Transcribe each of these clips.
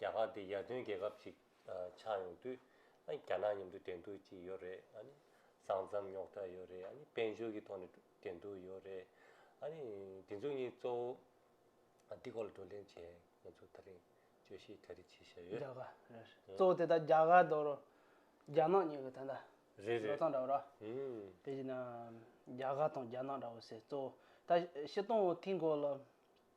རྒྱ་གར་འདི་ཡར་ཐོན་རྒྱལ་ཁབ་ཅིག་ཆགས་ཡོང་དུས། རྒྱ་ནག་མཉམ་དུ་བསྡད་འདུག་ཅིག་ཡོད་རེད། ས་མཚམས་རྙོག་དྲ་ཡོད་རེད། དཔལ་འབྱོར་གྱི་ཐོག་ནས་བསྡད་འདུག་ཡོད་རེད། འདི་ཚོ་གཉིས་གཙོ་བོ། འདི་སྐོར་ལ་བགྲོ་གླེང་བྱས་ང་ཚོ་ད་རིང་དཔྱོད་ཤེས་གྲ་སྒྲིག་བྱེད་བཞག་ཡོད། རྒྱ་གར་རེད། གཙོ་བོ་དེ་དག་རྒྱ་གར་དང་རོ། རྒྱ་ནག་གཉིས་ཀྱི་དོན་དག། རེད་རེད། ལོ་ཙཱ་འདྲ་བོ་ར། དེ་བཞིན། རྒྱ་གར་དང་རྒྱ་ནག་འདྲ་བོ་ཟེར་གཙོ་བོ། ད་ཕྱི་སྟོང་བོ་དེའི་འགོ་ལ།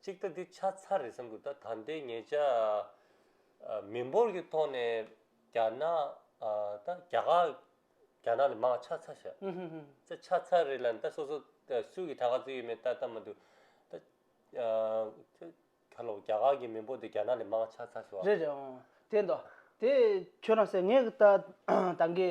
གཅིག་ད་འདི་ཆ་ཚ་རེད་བསམ་གྱི་འདུག་ད་ད་ལྟའི་ངེད་ཅག་མི་འབོར་གྱི་ཐོག་ནས་རྒྱ་ནག་ད་རྒྱ་གར་རྒྱ་ནག་ལས་མང་བ་ཆ་ཚ་ཞག་ད་ཆ་ཚ་རེད་ལ་ད་སོ་སོ་ད་སུ་གྱི་ད་ག་ཚོད་ཡོད་མེད་ད་ད་མ་འདུག་ད་ཁ་ལོ་རྒྱ་གར་གྱི་མི་འབོར་དེ་རྒྱ་ནག་ལས་མང་བ་ཆ་ཚ་ཞོག་རེད་རེད་འོང་དེ་འདོག་དེ་ཁྱོད་རང་སེ་ངེད་ད་ད་གེ་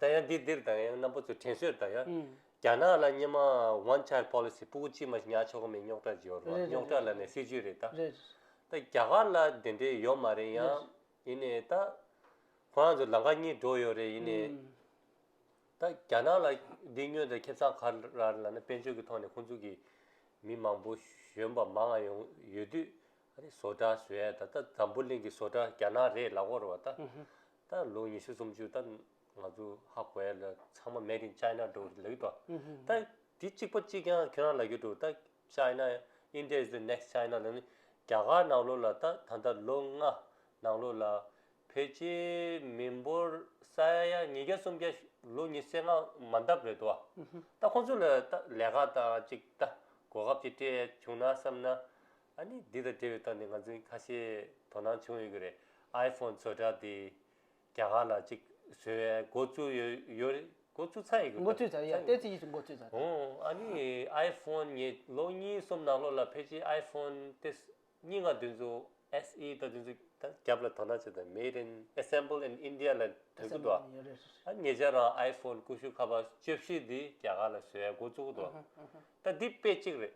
ད་ཡང་འདི་འདིར་དང་ཡང་རྣམ་པ་ཚོས་དྲན་གསོས་ད་ཡང་རྒྱ་ནག་ལ་སྙེ་མ One Child Policy སྤུ་གུ་གཅིག་མ་ཉག་ཆོག་གི་མིན་རྙོག་དྲ་འཇོག་རེད་རྙོག་དྲ་ལ་ནས་སྲིད་ཇུས་རེད་ད། རེད། ད་རྒྱ་གར་ལ་དེ་འདྲའི་ཡོད་མ་རེད་ཡང་ཡིན་ནས་ད་ཁོ་རང་ཚོ་ལང་ཀ་གཉིས་འགྲོ་ཡོད་རེད་ཡིན་ནས་ད་རྒྱ་ནག་ལ་འདི་སྨྱོན་ད་ཁེབས་ཚང་གར་ར་ལ་ནས་དཔལ་འབྱོར་གྱི་ཐོག་ནས་ཁོང་ཚོ་གི་མི་མང་པོ་གཞོན་པ་མང་ང་ཡོང་ཡོད་དུས་ཨ་རི་བཟོ་གྲ་བཟོས་ཡ་ད་ད་འཛམ་བུ་གླིང་གི་བཟོ་གྲ་རྒྱ་ནག་རེད་ལ་བོར་བ་ད། ད་ལོ་ཉི་ཤུ་སུམ་ཅུ་ད་ང་ཚོ་ཧ་གོ་ཡ་ལ་ཚང་མ made in China འགྲོ་རེད་ལབ་ཡོད་པ་ད་དེ་གཅིག་པོ་གཅིག་ཀྱང་ཁྱོད་རང་ལ་ཡོད་འགྲོ་ད China India is the next China ལབ་ནི་རྒྱ་གར་ནང་ལོགས་ལ་ད་ད་ལྟ་ལོ་ལྔ་ནང་ལོགས་ལ་ཕལ་ཆེ་མི་འབོར་ས་ཡ་ཉིས་བརྒྱ་སུམ་བརྒྱ་ལོ་ཉི་ཟེར་ལྔ་མ་འདབ་རེད་དོ་ད་ཁོང་ཚོ་ལ་ད་ལས་ཀ་དང་གཅིག་ད་གོ་སྐབས་གཅིག་སྤྲད་བྱུང་ན་བསམ་ན་ཨ་ནི་འདི་དང་འབྲེལ་བའི་སྟངས་དེ་ང་ཚོའི་ཁ་ཤས་དོ་སྣང་བྱུང་ཡོད་ཀྱི་རེད iPhone བཟོ་གྲྭ་དེ་རྒྱ་གར་ལ་ཅིག་བཟོས་བས་འགོ་བཙུགས་ཡོད་ཡོད་རེད་འགོ་བཙུགས་ཚར་ཡོད་འགོ་བཙུགས་ཚར་ཡོད་བལྟས་ཚེ་ཡིད་ཆེས་འགོ་བཙུགས་ཚར་འོང་ཨ་ནི iPhone ངས་ལོ་གཉིས་གསུམ་ནང་ལོགས་ལ་ཕལ་ཆེར iPhone དེ་སྙིང་ང་དེ་ཚོ SE དང་དེ་ཚོ་དང་རྒྱབ་ལ་དོ་སྣང་བྱས་དང made in assemble in India ལ་དོད་ཀྱི་འདུག་ཨ་ཨ་ངེད་ཅག་རང iPhone ཀུ་ཤུ་ཁ་པར་བཅོ་བཞི་དེ་རྒྱ་གར་ལ་བཟོས་བས་འགོ་བཙུགས་ཀྱི་འདུག་ཨ་ད་འདི་དཔེ་གཅིག་རེད།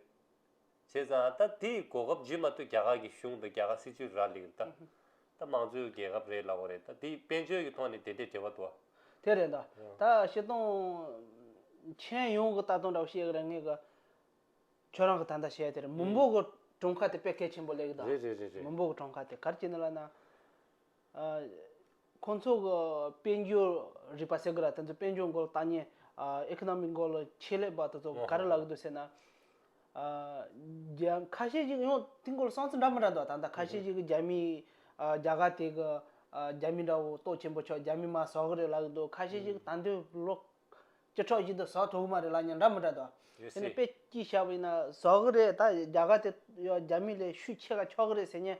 བྱས་ཙང་ད་དེ་གོ་སྐབས་རྗེས་མ་ལྟོས་རྒྱ་གར་གྱི་གཞུང་དང་རྒྱ་གར་སྲིད་ཇུས་རག་ལེགས་རེད་ད། ད་དམངས་གཙོའི་རྒྱལ་ཁབ་རེད་ལབ་བ་རེད་ད་དེ་དཔལ་འབྱོར་གྱི་ཐོག་ནས་དེ་འདྲའི་འབྲེལ་བ་འདུག་དེ་རེད་ད། ད་ཤི་སྟོང། མཁྱེན་ཡོང་གི་ལྟ་སྟངས་འདྲ་བོ་བཤད་གི་རེད་ངས་གི། ཁྱོད་རང་གི་ད་ལྟ་བྱས་དེར་མི་འབོར་གི་གྲོང་ཁ་དེ་དཔེ་གལ་ཆེན་པོ་ལེགས་རེད་རེད་རེད་རེད། མི་འབོར་གི་གྲོང་ཁ་དེ་གར་སྐྱེ་ནི་ལ་ན། ཁོང་ཚོ་གི་དཔལ་འབྱོར་རིག་པ་ཟེར་གི་ར་དེ་ཚོ་དཔལ་འབྱོར་འགོ་ལ་བཏང་ཉེན། Economic འགོ་ལ་ཆེད་ལས་པ་དེ་ཚོ་ག་རེ་ལབ་གི་འདུག་ཟེར་ན། རྒྱ་ཁ་ཤས་ཤིག་ཡང་དེང་གོ་ལ་སང་ཚིག་འདྲ་མི་འདྲ་འདུག་ད་ལྟ་ཁ་ཤས་ཤིག་གི་རྒྱ་མིའི་རྒྱ་གར་དེ་གི་རྒྱ་མི་འདྲ་བོ་ཏོག་ཆེན་པོ་ཆགས་རྒྱ་མི་མ་ཟ་གི་རེད་ལབ་གི་འདུག་ཁ་ཤས་ཤིག་ད་འདོད་ལོ་བཅུ་ཕྲག་བཞི་དུ་ཟ་ཐུབ་གི་མ་རེད་ལབ་ཉེན་འདྲ་མི་འདྲ་འདུག། རེད་དེ་ནས་སྲིད། དཔེ་ཅི་ཞག་པ་ཡིན་ན་ཟ་གི་རེད་ད་རྒྱ་གར་དེ་རྒྱ་མི་ལས་ཤུགས་ཆེ་ག་ཆགས་གི་རེད་ཟེར་ཉེན།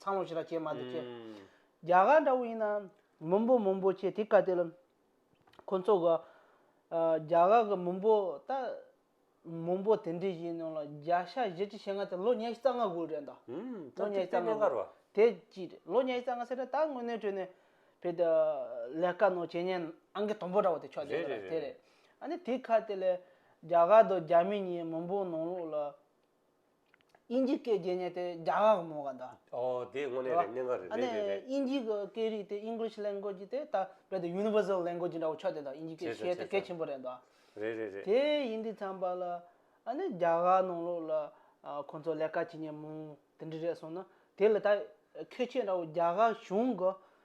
ཚང་ལོ་ཞེས་ར་སྐྱེས་མ་དེ་ཁྱེད། རྒྱ་གར་འདྲ་བོ་ཡིན་ན། མུན་པོ་མུན་པོ་ཁྱེད་དེ་བཀའ་སྟེ་ལ། ཁོ་ཚོ་ག། རྒྱ་གར་གི་མུན་པོ་ད། མུན་པོ་དེ་འདྲའི་ཞིག་ནང་ལ་རྒྱ་ཤ་བཞི་ཁྲི་ཞེ་ལྔ་དེ་ལོ་ཉེར་གཅིག་རྩ་ལྔ་དགོས་རེད་འདའ། ལོ་ཉེར་གཅིག་རྩ་ལྔ་དགོས། དེ་གཅིག་རེད་ལོ་ཉེར་གཅིག་རྩ་ལྔ་ཟེར་ན་ད་དངོས་གནས་ཁྲོད་ནས། བོད་དུ། ལས་ཀ་ནང་བྱེད་ཉེན་ཨང་ཀི་དང་པོ་འདྲ་བོ་དེ་ཆགས་ཀྱི་ཡོད་རེད། དེ་རེད། ཨ་ནི་དེ་ཁ་དེ་ལས། རྒྱ་གར་དུ་རྒྱ་མི་གཉིས་མུན་པོ་ནང་ལོགས་ལ། དབྱིན་ཇིའི་སྐད་རྒྱས་ཉེས་ཏེ་རྒྱ་དབྱངས་ཀྱི་མོ་ག་འདྲ། འོ་དེ་དངོས་གནས་རེད་གནད་འགག་རེད་རེད་རེད་རེད། དབྱིན་ཇིའི་གི་སྐད་རིགས་དེ English language དེ་ད་རྦད་དེ Universal language འདྲ་བོ་ཆགས་བསྡད་འདུག་དབྱིན་ཇིའི་སྐད་ཤེས་ཏེ་གལ་ཆེན་པོ་རེད་འདུག། རེད་རེད་རེད། དེ་ཡིན་དུས་ཚངས་པ་ལ་ཨ་ནི་རྒྱ་གར་ནང་ལོགས་ལ་ཁོང་ཚོ་ལས་ཀ་བྱེད་ཉེན་མོང་དེ་འདྲ་རེད་སོང་ན་དེ་ལ་ད་ཁེ་ཆེ་འདྲ་བོ་རྒྱ་གར་གཞུང་གི་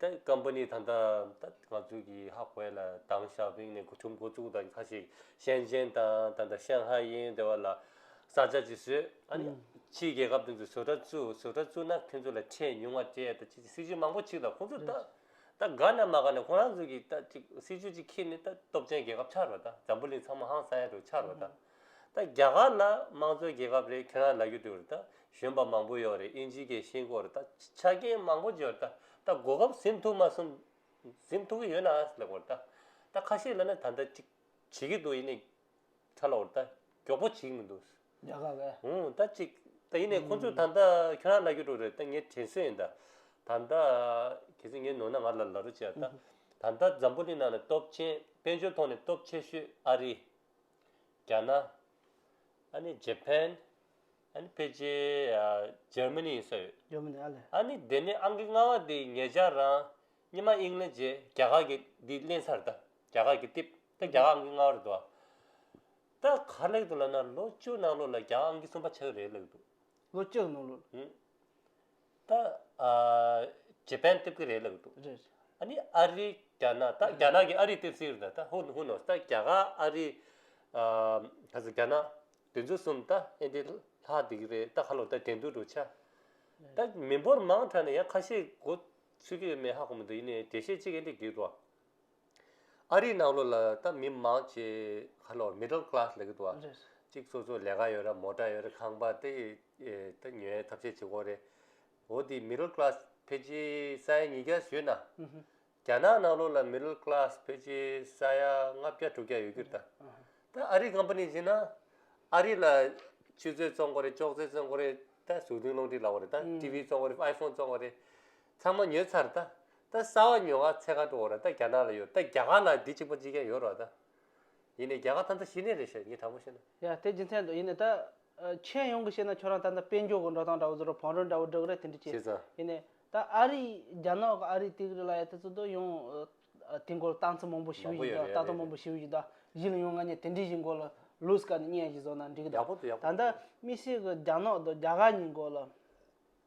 ད་ཀམ་པ་ནི་ད་ལྟ་ད་ང་ཚོའི་གི་ཧྭ་ཧྥེ་ལ་དྭང་ཞའོ་ཕིང་ནས་འགོ་ཁྲུམ་འགོ་བཙུགས་དང་ཁ་ཞིག་ཤན་ཅན་དང་ད་ལྟ་ཤན་ཧྭ་ཡིན་དེ་བ་ལ་ས་ཆ་ཅིག་བཟོས་ཨ་ནི་ཕྱིའི་རྒྱལ་ཁབ་དེ་ཚོས་བཟོ་གྲྭ་བཙུགས་བཟོ་གྲྭ་བཙུགས་ན་ཁྱོད་ཚོ་ལ་ཁྲལ་ཉུང་བ་སྤྲད་ད་ཅིག་ཅིག་སྲིད་ཇུས་མང་པོ་ཆིག་ལ་ཁོང་ཚོ་ད་ད་དགའ་ན་མ་དགའ་ན་ཁོ་རང་ཚོ་གི་ད་ཅིག་སྲིད་ཇུས་ཅིག་ཁིད་ནི་ད་སྟོབས་ཆེན་རྒྱལ་ཁབ་ཆགས་རོགས་ད་འཛམ་བུ་གླིང་ཚང་མ་ཧང་སངས་ཡ་རུ་ཆགས་རོགས་ད། ད་རྒྱ་གར་ན་དམངས་གཙོའི་རྒྱལ་ཁབ་རེད་ཁྱོད་རང་ལ་རྒྱུ་འདུག་རེད་ད་གཞོན་པ་མང་པོ་ཡོད་རེད་དབྱིན་ཇིའི་རྒྱལ་ཞེན་སྐོར་རེད་ད་ཆ་རྐྱེན་མང་པོ་བརྗོད་རེད་ད་ད་གོ་སྐབས་ཟིན་ཐུབ་མ་སོང་ཟིན་ཐུབ་ཀྱི་ཡོད་ན་ཨང་ལེགས་པོ་རེད་ད་ད་ཁ་ཤས་ལ་ནི་ད་ལྟ་ཅིག་བྱེད་ཀྱི་འདུག་ཡིན་ནས་ཁྲ་ལོག་རེད་ད་མགྱོགས་པོ་བྱེད་ཀྱི་མི་འདུག། རྒྱ་གར་བས། ཧུན་ད་ཅིག་ད་ཡིན་ནས་ཁོང་ཚོས་ད་ལྟ་ཁྱོད་རང་ལ་རྒྱུ་འདུག་རེད་ད་ངས་དྲན་སོན་ཡིན་ད་ད་ད་གལ་སྲིད་ངས་ནོར་ན་ང་ལ་ལ་རོ་བྱས་ད་ད་ད་འཛམ་བུ་གླིང་ནང་ནས་སྟོབས་ཆེན་དཔལ་འབྱོར་ཐོག་ནས་སྟོབས་ཆེ་ཤོས་ཨ་རི། རྒྱ་ནག། ཨ་ནི་ཇེ་ཕན། ཨ་ནི་ཕེ་ཇེ། ཇར་མི་ནི་སོགས་ཡོད། ཇར་མི་ནི་ཨ་ལི། ཨ་ནི་དེ་ནས་ཨང་ཀི་ལྔ་བ་དེ་ངེད་ཅག་རང། གཉིས་མ་ཨིང་ལེ་ཇེ་རྒྱ་གར་གི་འདི་གླེང་ཚར་ད། རྒྱ་གར་གི་ཏིབ། ད་རྒྱ་གར་ཨང་ཀི་ལྔ་བ་རེད་འདུག་ཨ། ད་ག་ལེགས་འདུག་ལབ་ན་ལོ་བཅུ་ནང་ལོ་ལ་རྒྱ་གར་ཨང་ཀི་གསུམ་པ་ཆགས་ཀྱི་རེད་ལེགས་འདུག། ལོ་བཅུ་ནང་ལོ། ད་རྗེ་པན་སྟེབས་ཀྱི་རེད་ལབ་འདུག་རེད་རེད། ཨ་ནི་ཨ་རི་རྒྱ་ནག་ད་རྒྱ་ནག་གི་ཨ་རི་སྟེབས་སིའི་རེད་ད་ད་ཧུ་ཧུ་ནོས་ད་རྒྱ་གར་ཨ་རི་ག་ས་རྒྱ་ནག་དེ་ཚོ་གསུམ་ད་ཨེ་འདི་ལྷག་འདི་གི་རེད་ད་ཧ་ལོ་ད་དེ་འདུག་འགྲོ་ཆ། ད་མི་འབོར་མང་དྲགས་ནས་ཡང་ཁ་ཤས་འགོ་ཚུད་ཀྱི་ཡོད་མེད་ཧ་གོ་མི་འདུག་ཡིན་ནའི་དེ་ཤེས་གཅིག་ཨེ་འདི་གི་རོ། ཨ་རིའི་ནང་ལོགས་ལ་ད་མི་མང་ཆེ་ཁ་ལོ Middle Class ལ་གི་དུ་བ་རེད། གཅིག་སོ་སོ་ལས་ཀ་ཡོད་ར་མོ་ཏྲ་ཡོད་ར་ཁང་པ་དེ་ད་ཉོ་ཡའི་ཐབས་ཤེས་བྱེད་དགོས་རེད། འོ་དེ Middle Class ཕལ་ཆེ་ས་ཡ་ཉིས་བརྒྱ་ཞོད་ན། རྒྱ་ནག་ནང་ལོགས་ལ Middle Class ཕལ་ཆེ་ས་ཡ་ལྔ་བརྒྱ་དྲུག་བརྒྱ་ཡོད་གི་རེད་ད། ད་ཨ་རིའི Company བྱེད་ན་ཨ་རི་ལ་ཆུ་ཚོད་བཙོང་དགོས་རེད་ཅོག་ཙེ་བཙོང་དགོས་རེད་ད་ཟུག་རྡུང་སློང་ཁྲིད་ལ་བ་རེད་ད TV བཙོང་དགོས་རེད iPhone བཙོང་དགོས་རེད། ཚང་མ་ཉོས་ཚར་ད། ད་གསར་བ་ཉོ་ག་ཚད་ག་འགྲོ་འོ་ར་ད་རྒྱ་ནག་ལ་ཡོད་ད་རྒྱ་གར་ལ་འདི་གཅིག་པ་གཅིག་ཀྱང་ཡོད་རོགས་ད། ཡིན་ནས་རྒྱ་གར་ད་ད་ཤི་ནས་རེད་ཤོད་ངས་དྲང་པོ་བཤད་ན། ཡ་དེ་རྒྱུ་མཚན་འདུག་ཡིན་ནས་ད། མཆན་ཡོང་གི་བཤད་ན་ཁྱོད་རང་ད་ད་དཔེ་འཇོག་གི་འགྲོ་སྟངས་འདྲ་བོ་བཟོ་རོགས་བང་རོལ་འདྲ་བོ་སྒྲོག་རེད་དེ་འདྲ་བྱས། ཤེས་ཚ། ཡིན་ནས་ད་ཨ་རི་རྒྱ་ནག་གི་ཨ་རི་དེ་གི་རི་ལ་ཡ་དེ་ཚོ་ད་ཡོང། དེ་འགོ་ལ་སྟངས་ཚིག་མང་པོ་ཞུ་མང་པོ་གི་ཡོད་རེད་འདུག་ད་ཡ་དོ་རེད་མང་རེད། པོ་ཞུ་གི་འདུག་གཞི་ལ་ཡོང་ང་ནས་དེ་འདྲའི་གཞི་འགོ་ལ་ལུས་ཀ་ནས་བརྙན་ཞིག་བཟོ་ན་འགྲིག་གི་ཡག་འདུག་པོ་འདུག་ཡག་པོ་ད་འདུག་ལྟ་མི་སྲིད་གི་རྒྱ་ནག་དང་རྒྱ་གར་གཉིས་འགོ་ལ།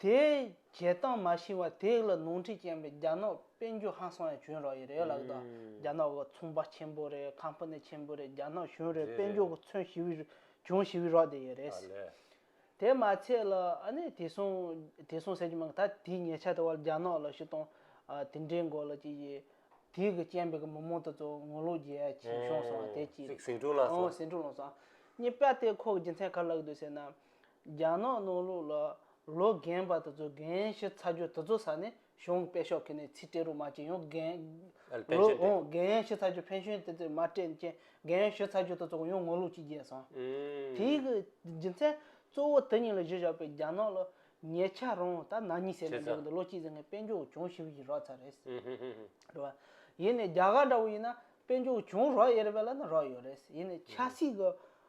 དེ་བྱེད་སྟངས་མ་ཤེས་པ་དེ་ལ་ནོར་འཁྲིད་ཀྱིན་པའི་རྒྱ་ནག་དཔོན་རྒྱུད་ཧང་སང་ཡང་བྱོན་རོགས་ཡིན་རེད་ལགས་ད། རྒྱ་ནག་གི་ཚོང་པ་ཆེན་པོ་རེད་ཁམ་ཕུ་ནེ་ཆེན་པོ་རེད་རྒྱ་ནག་གཞུང་རེད་དཔོན་རྒྱུད་ཀྱི་མཚོན་ཞི་བའི་གྱོང་ཞི་བའི་རོགས་དེ་ཡིན་རེད། དེ་མ་ཚད་ལ་ཨ་ནེ་དེ་སོང་དེ་སོང་ཟེར་གྱི་མང་གི་ད་དེའི་ཉེ་ཆ་དེ་བ་ལ་རྒྱ་ནག་ལ་ཤི་སྟོང་དེ་འདྲའི་མགོ་ལ་ཅི་ཡི་དེའི་གི་སྐྱེན་པའི་གི་མི་མང་དེ་ཚོ་ངོ་ལོག་རྒྱལ་ཡ་ཆིན་ཤོང་སོང་བ་དེ་གཅིག་རེད། ཟིང་འཁྲུག་ལངས་སོང། ཟིང་འཁྲུག་ལངས་སོང། གཉིས་པ་དེ་ཁོ་གི་རྒྱུ་མཚན་ག་ལ་ཡོད་དུ་ཟེར་ན། རྒྱ་ནག་ནོར་ལུག་ལ་ལོ་རྒན་པ་དེ་ཚོ་རྒན་ཞིག་ཚ་རྒྱུ་དེ་ཚོ་ཟ་ནས་གཞུང་གི་དཔེ་ཤོག་ཁེ་ནས་ཚིག་སྤྲེལ་རུ་མ་བྱེད་ཡོང་རྒན། ལོ་ཕན་ཆེན་འདི། རྒན་ཞིག་ཚ་རྒྱུ་ཕན་ཤུན་དེ་ཚོས་མ་སྤྲེལ་མཁྱེན་རྒན་ཞིག་ཚ་རྒྱུ་དེ་ཚོ་གོ་ཡོང་ངོ་ལུག་ཅིག་རྒྱས་སོང། དེ་ཡི་གི་རྒྱུ་མཚན་གཙོ་བོ་དེ་གཉིས་ལ་གཞི་བཞག་པའི་རྒྱ་ནག་ལ་ཉེ་ཆ་རང་ད་ནག་ཉིས་བསད་ནས་བསྡད་གི་འདུག་ལོ་གཅིག་ཟེར་མཁན་དཔེ་འཇོག་གྱོང་ཞིབ་ཡི་རག་ཚར་རེད། རེད་བ། ཡིན་ནས་རྒྱ་གར་འདྲ་བོ་ཡིན་ན་དཔེ་འཇོག་གྱོང་རག་ཡེར་བས་ལ་ན་རག་ཡོད་རེད། ཡིན་ནས་ཆ་སྲིད་གི།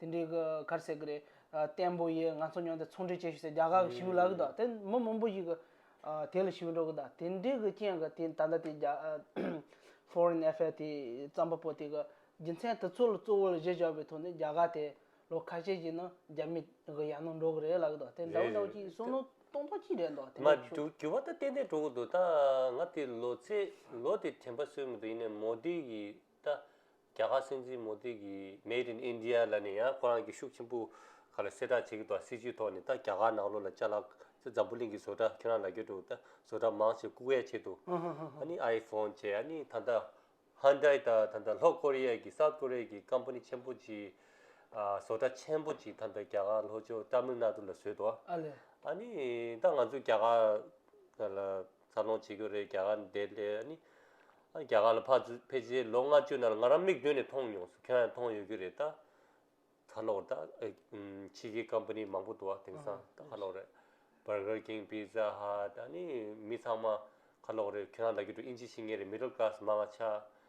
དེ་འདྲའི་གི་གར་བསད་གི་རེད། བརྟན་པོ་ཡིས་ང་ཚོ་ཉོན་ཏེ་ཚོང་འབྲེལ་བྱེད་ཞུས་ཚེ་རྒྱ་གར་གི་ཞི་བའི་ལག་གི་དོག་དེ་མི་མང་པོ་ཞིག་གི་དེ་ལ་ཞི་བའི་འགྲོ་གི་དོག་དེ་འདྲའི་གི་རྐྱེན་གི་དེ་ད་ལྟ་དེ་རྒྱ Foreign Affair དེ་བརྩམས་པ་པོ་དེ་གི་རྒྱུ་མཚན་དེ་ཚོ་ལ་གཙོ་བོ་ལ་གཞི་བཞག་པའི་ཐོག་ནས་རྒྱ་གར་དེ་ལོ་ཁ་ཤས་ཀྱི་ནང་རྒྱ་མི་གི་ཡར་ནང་འགྲོ་གི་རེད་ལག་གི་དོག་དེ་འདྲ་བོ་འདྲ་བོ་ཅིག་གསུངས་ནོ་སྟོང་ཐོག་གཅིག་རེད་འདོག་དེ་འདྲ་བོ་ཞུ། འགྱུར་བ་ད་ཏན་ཏན་འགྲོ་གི་འདུག་ད་ང་དེ་ལོ་ཚེས་ལོ་དེ་དྲན་པ་སོས་མི་འདུག་ཡིན་ནའི་མོ་དི་གི་ད། རྒྱ་གར་སྲིད་འཛིན་མོ་དྷི་གིས Made in India ལ་ནི་ཡང་ཁོ་རང་གིས་ཤུགས་ཆེན་པོ་ག་ལ་གསལ་བསྒྲགས་བྱེད་ཀྱི་འདུག་ཨ་སྲིད་ཇུས་ཐོག་ནས་ད་རྒྱ་གར་ནག་ལོ་ལ་བཅའ་ལག་ཚེ་འཛམ་བུ་གླིང་གི་བཟོ་གྲྭ་ཁྱེད་རང་ལ་རྒྱུ་འགྲོ་ད་བཟོ་གྲྭ་མང་ཆེ་བཀུག་ཡ་ཆེད་དུ་ཨ་ནི iPhone བཅས་ཨ་ནི་ད་ད Hyundai ད་ད་ད་ལྷོ་ཀོ་རི་ཡ་གི South Korea གི Company ཆེན་པོ་གཅིག་ཨ་བཟོ་གྲྭ་ཆེན་པོ་གཅིག་ད་ད་རྒྱ་གར་ལྷོ་ཕྱོགས Tamil Nadu ལ་བཟོས་འདུག་ཨ་ལས། ཨ་ནི་ད་ང་ཚོས་རྒྱ་གར་ལ། འཚར་ལོངས་བྱེད་རྒྱུ་རེད་རྒྱ་གར་འདས་ལྟས་ནི། རྒྱ་གར་ལ་ཕར་ཕེབས་རྗེས་ལོ་ལྔ་བཅུ་ནང་ང་རང་མིག་མདུན་ནས་མཐོང་མྱོང་སོང་ཁྱེད་རང་ཡང་མཐོང་ཡོད་རྒྱུ་རེད་ད། ཁ་ལོར་ད། ཕྱི་རྒྱལ Company མང་པོ་འདུག་ཨ་དེང་སང་ད་ཁ་ལོར་རེད། Burger King Pizza Hut ཨ་ནི་མི་ཚང་མ་ཁ་ལོར་རེད་ཁྱེད་རང་ལ་རྒྱུ་འགྲོ་ཨིན་ཇི་ཤེས་ངེས་རེད Middle Class མ་ང་ཆགས་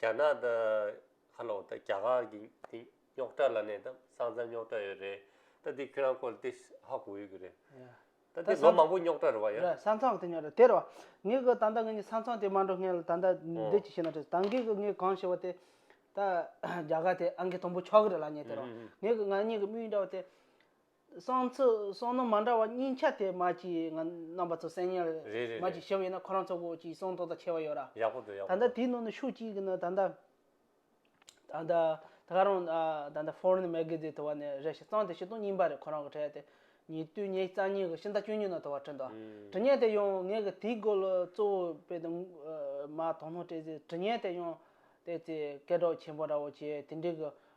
རྒྱ་ནག་དང་ཧ་ལོང་དང་རྒྱ་གར་གྱི་དེ་རྙོག་དྲ་ལ་ནས་དང་སང་ཙང་རྙོག་དྲ་ཡོད་རེད་ད་དེ་ཁྱོད་རང་སྐོར་ལ་དེ་ཧ་གོ་ཡོད་ཀྱི་རེད་ད་དེ་ལོ་མང་པོ་རྙོག་དྲ་རེད་བ་ཡ། རེད་སང་ཙང་དེ་རྙོག་དྲ་དེ་རེད་བ་ངས་གོ་ད་ལྟ་ངས་སང་ཙང་དེ་མ་འགྲོ་ངས་ལ་ད་ལྟ་འདི་ཅི་བྱས་ན་འགྲིག་ད་ངས་གོ་ངས་གང་བྱས་བ་དེ་ད་རྒྱ་གར་དེ་ཨང་ཀི་དང་པོ་ཆག་གི་རེད་ལ་ངས་དེ་རེད་བ་ངས་གོ་ང་གཉིས་ཀྱི་དམིགས་ཡུལ་འདྲ་བ་དེ། གསང་ཚིག་གསང་ནོར་མ་འདྲ་བ་གཉིས་ཆ་དེ་མ་གྱི་རྣམ་པ་ཚོ་གསན་ཉར་རེད་རེད་རེད་མ་གྱི་ཞིབ་ཡིན་ན་ཁོ་རང་ཚོ་གོ་གྱི་གསང་ཐོག་དང་ཆེ་བ་ཡོད་ར། ཡག་པོ་འདུག་ཡག་ད་པོ་ལྟ་འདུག། དེའི་ནང་ནས་ཤུགས་གཅིག་གིས་ནི་ད་ལྟ། ད་ལྟ་ད་ག་རང་ད་ལྟ Foreign Magazine དེ་བ་ནས་རེ་ཞིག་གཙང་དེ་བཞི་སྟོང་གཉིས་པ་རེད་ཁོ་རང་གི་འཕྲད་དེ། ཉིས་དུས་ཉེས་གཙང་གཉིས་ཀྱི་ཤིང་རྟ་བཅུ་གཉིས་ནང་དུ་བ་བྲིས་འདུག་ཨ། དྲི་བརྙན་དེ་ཡང་ངས་གི་དེའི་སྐོར་ལ་གཙོ་བོ་དཔེ་དང། མ་དོ་སྣང་སྤྲད་ཚེ་དྲི་བརྙན་དེ་ཡང། དེ་ཚེ་སྐད་གྲགས་ཆེན་པོ་འདྲ་བོ་བྱས་དེ་འདྲའི་གི་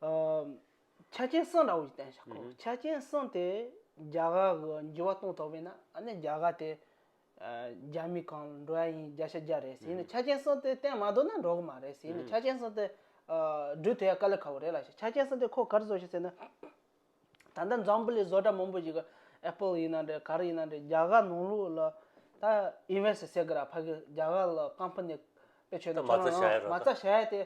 ཆ་རྐྱེན་གསུམ་ལ་འོས་ཤིང་བསྟན་ཤོག་ཆ་རྐྱེན་གསུམ་དེ་རྒྱ་གར་གྱི་འགྱུར་བ་གཏོང་ཐུབ་པས་ན་རྒྱ་གར་དེ་རྒྱ་མི་གང་འགྲོ་ཡ་ཡིན་རྒྱ་ཤ་རྒྱ་རེད་ཟེར་ནས་ཆ་རྐྱེན་གསུམ་དེ་བསྟན་མ་འདུག་ན་འགྲོ་གི་མ་རེད་ཟེར་ནས་ཆ་རྐྱེན་གསུམ་དེ་སྦྲུལ་དེ་ཡང་དཀའ་ལས་ཁག་པོ་རེད་ལ་ཆ་རྐྱེན་གསུམ་དེ་ཁོ་གར་བཟོ་ཤེས་ཟེར་ན། ད་ལྟ་འཛམ་བུ་ལས་བཟོ་གྲྭ་མང་པོ་ཞིག་གི Apple ཡིན་ན་འདྲ་གར་ཡིན་ན་འདྲ་རྒྱ་གར་ནང་ལུགས་ལ་ད Invest བྱེད་ཀྱི་ར་ཕ་གི་རྒྱ་གར་ལ་ཀམ་ཕ་ནི་དཔེ་ཆོས་ནི་མ་རྩ་བྱ་ཡ་དེ།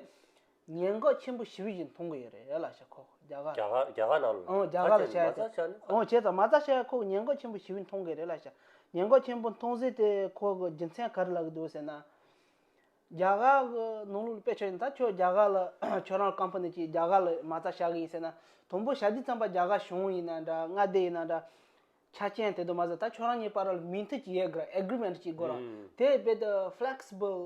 ཉེན་འགོག་ཆེན་པོ་ཞི་བའི་བཞིན་མཐོང་གི་ཡོད་རེད་ལ་ཤ་ཁོག་རྒྱ་གར། རྒྱ་གར་རྒྱ་གར་ནང་ལ་ཨོ་རྒྱ་གར་ལ་ཤ་ཡ་དེ་ཨོ་བྱས་ཙང་མ་རྩ་ཤ་ཡ་ཁོག་ཉེན་འགོག་ཆེན་པོ་ཞི་བའི་མཐོང་གི་རེད་ལ་ཤ་ཉེན་འགོག་ཆེན་པོ་མཐོང་ཟིན་དེ་ཁོག་གི་རྒྱུ་མཚན་ག་རེ་ལ་གི་འདུག་ཟེར་ན། རྒྱ་གར་གི་ནང་ལུགས་ལ་དཔེ་ཆོས་ཡིན་ད་ཁྱོད་རྒྱ་གར་ལ་ཁྱོད་རང་ཀམ་ཕུ་ནི་གྱིས་རྒྱ་གར་ལ་མ་རྩ་ཤ་གི་ཡིན་ཟེར་ན་དང་པོ་ཤ་དུས་ཙམ་པ་རྒྱ་གར་གཞུང་ཡིན་ན་འདྲ་མངའ་སྡེ་ཡིན་ན་འདྲ། ཆ་རྐྱེན་དེ་དུ་མ་ཟད་ད་ཁྱོད་རང་གཉིས་བར་ལ་མིང་མཐུད་ཀྱི་ཡས་གྲོལ Agreement ཅིག་དགོས་རོགས། དེ་ཡི་དཔེ་དེ Flexible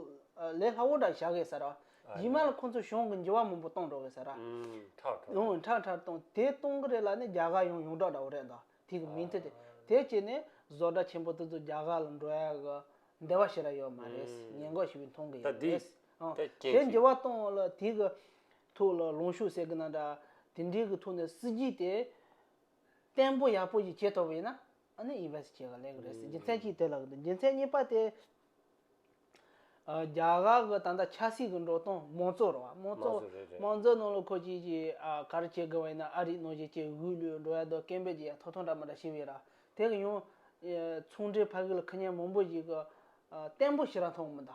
ལས་སླ་བོ་འདྲ་བྱ་དགོས་ཟེར་རོགས། རྗེས་མ་ལ་ཁོ་ཚོས་གཞུང་གི་འགྱུར་བ་མང་པོ་གཏོང་འགྲོ་གི་ཟེར་རོགས། ཁྲག་ཁྲག་གཏོང། ཁྲག་ཁྲག་གཏོང། དེ་གཏོང་གི་རེད་ལ་ནི་རྒྱ་གར་ཡོང་ཡོང་གྲགས་འདྲ་བོ་རེད་འདོད། དེ་གི་མིང་མཐུད་དེ། དེ་བྱས་ནས་བཟོ་གྲྭ་ཆེན་པོ་དེ་ཚོ་རྒྱ་གར་ལ་འགྲོ་ཡ་གི་འདོད་པ་ཞིག་ར་ཡོད་མ་རེད། ཉེས་འགོག་ཞིག་བས་མཐོང་གི་ཡོད་རེད། དེ་འགྱུར་བ་གཏོང་ལ་དེ་གི་ཐུགས་ལ་ལོངས་ཤུགས་ཟེར་གི་ན་འདྲ། དེ་འདྲའི་གི་ཐུགས་ནས་སྲིད་ཇུས་དེ། བརྟན་པོ་ཡག་པོ་ཡི་གེ་ཐོབ་ཡིན་ན་ནི invest བྱས་ག་ལེགས་རེད་ཟེར་རྒྱུ་མཚན་གཅིག་དེ་ལ་རྒྱུ་མཚན་གཉིས་པ་དེ། རྒྱ་གར་གི་ད་ལྟ་ཆབ་སྲིད་ཀྱི་འགྲོ་སྟངས་མང་གཙོ་རེད་བ། མང་གཙོ་རེད་རེད། མང་གཙོ་ནང་ལ་ཁོ་གཅིག་གིས་ག་རེ་བྱེད་དགོས་བ་ཡིན་ན་ཨ་རིས་གནང་བཞིན་ཅེས་འུད་ལུས་འགྲོ་ཡ་དོ་ཀེམ་བོད་ཀྱི་ཡ་ཐོ་ཐོ་འདྲ་མ་འདྲ་ཞིག་བས་ར་དེ་གི་ཡང། ཚོང་འབྲེལ་ཕ་གི་ལ་ཁི་ཉན་མང་པོ་ཞིག་གི་བརྟན་པོ་ཞིག་ར་མཐོང་མི་འདའ།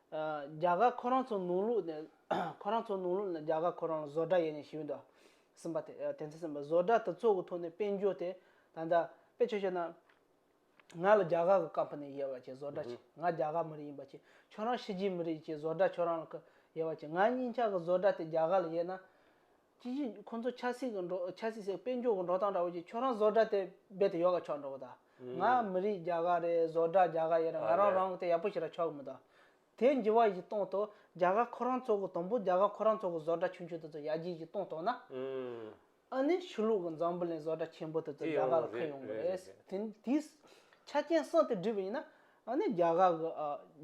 རྒྱ་གར་ཁོ་རང་ཚོ་ནང་ལུགས་ནས་ཁོ་རང་ཚོ་ནང་ལུགས་ནས་རྒྱ་གར་ཁོ་རང་ལ་བཟོ་གྲྭ་ཡེ་ནས་ཞིག་ཡོད་འདུག་གསུངས་པ་དེ་དེ་ཚོས་སེམས་པ་བཟོ་གྲྭ་དེ་ཚོ་གི་ཐོག་ནས་དཔལ་འབྱོར་དེ་ད་ལྟ་དཔེ་ཆོས་ཤོད་ན། ང་ལ་རྒྱ་གར་གི་ཀམ་ཕ་ནི་ཡེར་བ་ཆེ་བཟོ་གྲྭ་ཆེ་ང་རྒྱ་གར་མི་རིགས་ཡིན་པ་ཆེ་ཁྱོད་རང་ཕྱི་རྒྱལ་མི་རིགས་ཆེ་བཟོ་གྲྭ་ཁྱོད་རང་ལ་ཡེར་བ་ཆེ་ང་གཉིས་ཆ་གི་བཟོ་གྲྭ་དེ་རྒྱ་གར་ལ་ཡེར་ན། ཅི་ཞིག་ཁོ་ཚོ་ཆགས་སྲེད་ཀྱི་འགྲོ་ཆགས་སྲེད་སེ་དཔེ་འཇོག་གི་འགྲོ་སྟངས་འདྲ་བོ་ཞིག་ཁྱོད་རང་བཟོ་འདྲ་དེ་རྦད་དེ་ཡོ་ག་ཆོག་འགྲོ་གི་དང། ང་མི་རིགས་རྒྱ་གར་རེད་བཟོ་འདྲ་རྒྱ་གར་ཡིན་རང་ང་རང་རང་གི་དེ་ཡག་པོ་ཞིག་ར་ཆོག་གི་མི་དང། དེ་འགྱི་བ་ཞིག་གཏོང་དོ་རྒྱ་གར་ཁོ་རང་ཚོ་གི་དང་པོ་རྒྱ་གར་ཁོ་རང་ཚོ་གི་བཟོ་འདྲ་ཆུང་ཆུང་དེ་ཚོ་ཡར་རྒྱས་ཞིག་གཏོང་ཐོག་ན། ཨ་ནི་ཆུ་ལུག་གི་འཛམ་བུ་ལན་བཟོ་འདྲ་ཆེན་པོ་དེ་ཚོ་རྒྱ་གར་ལ་ཁུར་ཡོང་གི་རེད་ཟེར་དེ་དེའི་ཆ་རྐྱེན་གསུམ་དེ་འགྲིག་པ་ཡིན་ན་ཨ་ནི་རྒྱ་གར་གི་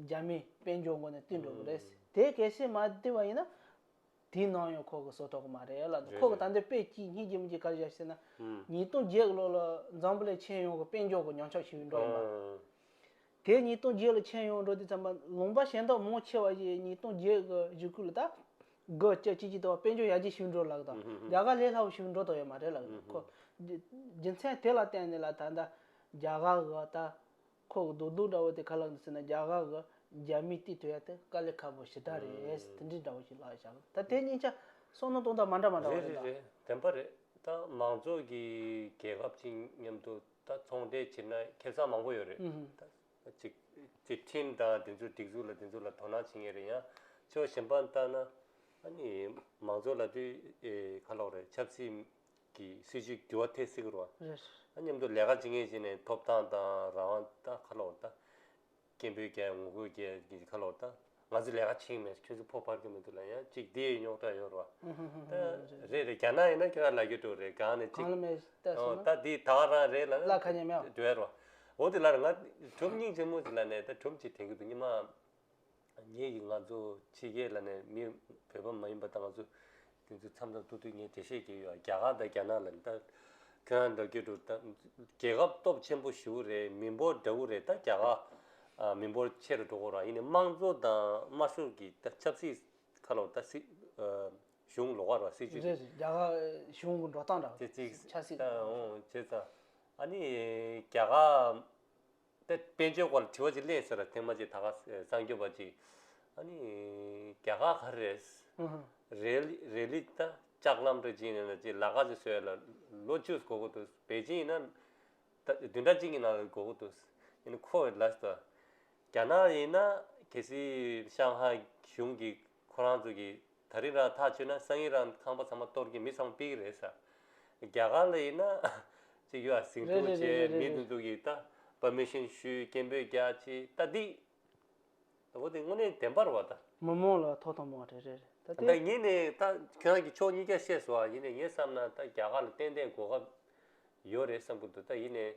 རྒྱ་མིས་དཔེ་འཇོག་མགོ་ནས་བཏུས་འགྲོ་གི་རེད་ཟེར་དེ་གལ་སྲིད་མ་བཏུས་པ་ཡིན་ན། དེའི་ནང་ཡང་ཁོག་གི་སོ་ཐོག་མ་རེད་ལ་རེད་ཁོག་གི་རེད་ད་འདིར་དཔེ་གཅིག་གཉིས་ཀྱིས་མི་འགྱིག་གར་བཞག་ཟེར་ན། ཨང། ཉིས་སྟོང་བརྒྱད་ལོ་ལ་འཛམ་བུ་ལས་མཆན་ཡོང་གི་དཔེ་འཇོག་གི་མྱང་ཆགས་ཞིག་འགྲོ་ཡིན་པ། ཨང། དེ་ཉིས་སྟོང་བརྒྱད་ལ་མཆན་ཡོང་འགྲོ་དུས་ཙམ་པ་ལུང་པ་ཞེན་དོགས་མང་ཆེ་བ་ཞིག་ཉིས་སྟོང་བརྒྱད་གི་བཞུགས་སྐུལ་ལ་ད་གི་སྐྱ་ཅིག་ཅིག་དང་བ་དཔེ་འཇོག་ཡག་ཅིག་ཞིག་འགྲོ་ལགས་དང་རྒྱ་གར་ལས་སླ་བོ་ཞིག་འགྲོ་དོགས་ཡོད་མ་རེད་ལགས་ཁོ། རྒྱུ་མཚན་དེ་ལ་བརྟེན་ནས་ལ་ད་ད་རྒྱ་གར་གི་ད། ཁོ་གི་རྡོ་རྡུང་འདྲ་བོ་དེ་ཁ་ལག་འདི་ཟེར་ན་རྒྱ་གར་གི་རྒྱ་མིས་བལྟས་ཐུབ་ཡ་དེ་དཀའ་ལས་ཁ་པོ་ཞི་དྲག་རེད་དེ་འདྲི་འདྲ་བོ་ཞིག་ལགས་བཞག་ད་དེ་གཉིས་ཆ་སོང་ན་སྟོང་དང་མ་འདྲ་མ་འདྲ་བ་རེད་རེད་རེད་རེད་དེ་འདྲ་རེད་ད་མང་ཚོགས་ཀྱི་རྒྱལ་ཁབ་ཅིག་མཉམ་དུ་ད་ཚོང་འབྲེལ་བྱེད་ན་ཁེ་བཟང་མང་པོ་ཡོད་རེད་ད་ཅིག་ཅིག་ཁྲིན་ཏང་དེ་ཚོའི་སྒྲིག་འཛུགས་ལ་དེ་ཚོ་ལ་དོ་སྣང་བྱེད་ངེས་རེད་ཡང་ཕྱོགས་གཞན་པ་ལྟ་ན་ཨ་ནི་མང་ཚོགས་ལ་དེ་ཁ་ལོག་རེད་ཆབ་སྲིད། གི་སྲིད་ཇུས་བསྒྱུར་བ་ཐད་སེ་གི་རུ་རེད། ཨ་མཉམ་དུ་ལས་ཀ་བྱེད་མཁན་བྱས་ནས་ཐོབ་ཐང་དང་རང་དབང་ད་ཁ་ལོ་བར་ད། སྐད་འབོད་བརྒྱ་ངོ་རྒོལ་བརྒྱད་ཀྱི་ཁ་ལོ་བར་ད། ང་ཚོས་ལས་ཀ་བྱེད་ཀྱི་མེད་ཁྱོད་ཚོས་ཕོག་ཕར་གྱི་མི་འདུག་ལ་ཡང་ཅིག་དེའི་རྙོག་དྲ་ཡོད་རུ་བ། ད་རེད་རེད་རྒྱ་ནག་ཡིན་ན་ཁྱོད་ཀ་ལ་རྒྱུ་དྲུག་རེད་གང་ནས་ཅིག། གང་ལ་མེད་ལྟ་སོང་ན། ད་དེའི་དག་རང་རེད་ལ། ལ་ཁ་ཉེ་མ་ཡོང། འདྲི་བས་རུ་བ། འོ་དེ་ལར་ང་གྲུབ་སྙིང་ཆེན་མོ་ཞིག་ལ་ནས་ད་གྲུབ་ཅིག་དེང་གི་དུ་སྙིང་མ། ངེད་ཀྱིས་ང་ཚོ་ཕྱི་རྒྱལ་ལ་ནས་མི་བོད་པ་མ་ཡིན་པ་དང་ང་ཚོ་དེ་ཚོའི་འཚམས་འཚམས་ཐུག་ཐུག་ངས་འགྲེལ་བཤད་བྱས་ཡོད་རྒྱ་གར་དང་རྒྱ་ནག་ལ་ནས་ད་ཁྱོད་རང་འདྲ་བརྒྱུད་འགྲོ་ད་རྒྱལ་ཁབ་སྟོབས་ཆེན་པོ་བཞི་བོ་རེད་མི་འབོར་འདྲ་བོ་རེད་ད་རྒྱ་གར་མི་འབོར་ཆེ་རུ་འགྲོ་དགོས་རང་ཡིན་ནས་དམངས་གཙོ་དང་དམར་ཤོག་གི་ད་ཆབ་སྲིད་ཁ་ལོ་ད་སྲིད་གཞུང་ལོག་ཁ་ར་སྲིད་ཇུས་རེད། རེད་རྒྱ་གར་གཞུང་གི་འགྲོ་སྟངས་འདྲ་བོ་ཆབ་སྲིད། ད་འོང་བྱས་ཙང་ཨ་ནི་རྒྱ་གར། དེ་དཔལ་འབྱོར་སྐོར་ལ་དྲི་བ་ཅིག་གླེང་ཟེར་ལ་ཐེངས་མ་གཅིག་ད་ག་གསང་རྒྱུད་པ་ཅིག་ཨཱ་ནི། རྒྱ་གར་ག་རེ་རེད། རེད། རེད་ལི་ད་ལྕགས་ལམ་དུ་བྱིན་ནས་ན་ཅིག་ལ་ག་ཅིག་བཟོས་ལ་ལོ་བཅུ་གོ་གི་འདུག་པེ་ཅིན་ཡིན་ན། ད་བདུན་ཕྲག་གཅིག་གི་ནང་ལ་གོ་གི་འདུག་ཨཱ་ནི་ཁོ་ལ་ཟེར། རྒྱ་ནག་ཡིན་ན་གལ་སྲིད་ཤང་ཧྭའི་གཞུང་གིས་ཁོ་རང་ཚོ་གིས་ད་རིང་རང་ཐག་ཆོད་ན་སང་ཉིན་རང་ཁང་པ་ཚང་མ་གཏོར་གྱིན་མི་ཚང་མ་སྤེལ་གྱི་རེད་ས། རྒྱ་གར་ལ་ཡིན་ན། ཅིག་ཡོད་ཨ་ཟིང་རེད་རེད་འདུག་རེད་རེད་ཅེས་མི་རེད་འདི་རེད་འདུག་ཡིག་རྟ Permission ཞུས་སྐྱེན་པོས་རྒྱག་ཅེས་རྟ་རྡིག། ད་བུ་དེ་དངོས་གནས་བདེན་པར་བ་ད། མི་དམངས་ལ་ཐོག་ཐང་མང་རེད་རེད་རེད་ད་དེ། ད་ངེད་ནས་ད་ཁྱོད་རང་གིས་ཕྱོགས་གཉིས་ཀ་བཤད་སོང་ཡིན་ནས་ངས་བསམ་ན་ད་རྒྱ་གར་ལ་ཏན་ཏན་གོ་སྐབས་ཡོད་རེད་བསམ་གྱི་འདུག་ད་ཡིན་ནས་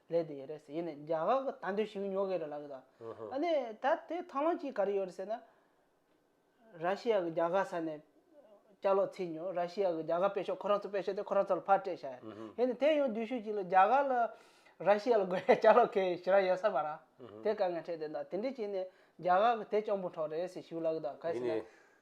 ལས་དེ་ཡོད་རེད་ཟེར་ཡིན་ནས་རྒྱ་གར་གྱི་དར་མདོས་ཞིག་ཉོ་གི་རེད་ལབ་ཀྱི་དང། ཨ་ནི་ད་དེ་ཐང་ལོང་གཅིག་ག་རེ་ཡོད་རེད་ཟེར་ན། ར་ཤི་ཡ་གི་རྒྱ་གར་ས་ནས་སྐྱག་ལོག་ཚིག་ཉོ་ར་ཤི་ཡ་གི་རྒྱ་གར་སྤེལ་ཤོག་ཁོ་རང་ཚོ་སྤེལ་ཤོག་དེ་ཁོ་རང་ཚོ་ལ་ཕར་སྤྲད་བྱ། ཡིན་ནས་དེ་ཡོང་དུས་ཤོས་གཅིག་ལ་རྒྱ་གར་ལ་ར་ཤི་ཡ་ལ་དགོས་ཡ་སྐྱག་ལོག་ཁེ་ཞེ་ར་ཡོད་ས་མ་རང། དེ་དཀའ་ངལ་འཕྲད་དེ་ད་དེ་འདྲས་བྱས་ནས་རྒྱ་གར་གྱི་དེ་གཅོང་པོ་འཕྲོག་རེད་ཟེར་ཞུ་ལབ་ཀྱི་དང་ག་རེ་ཟེར་ན།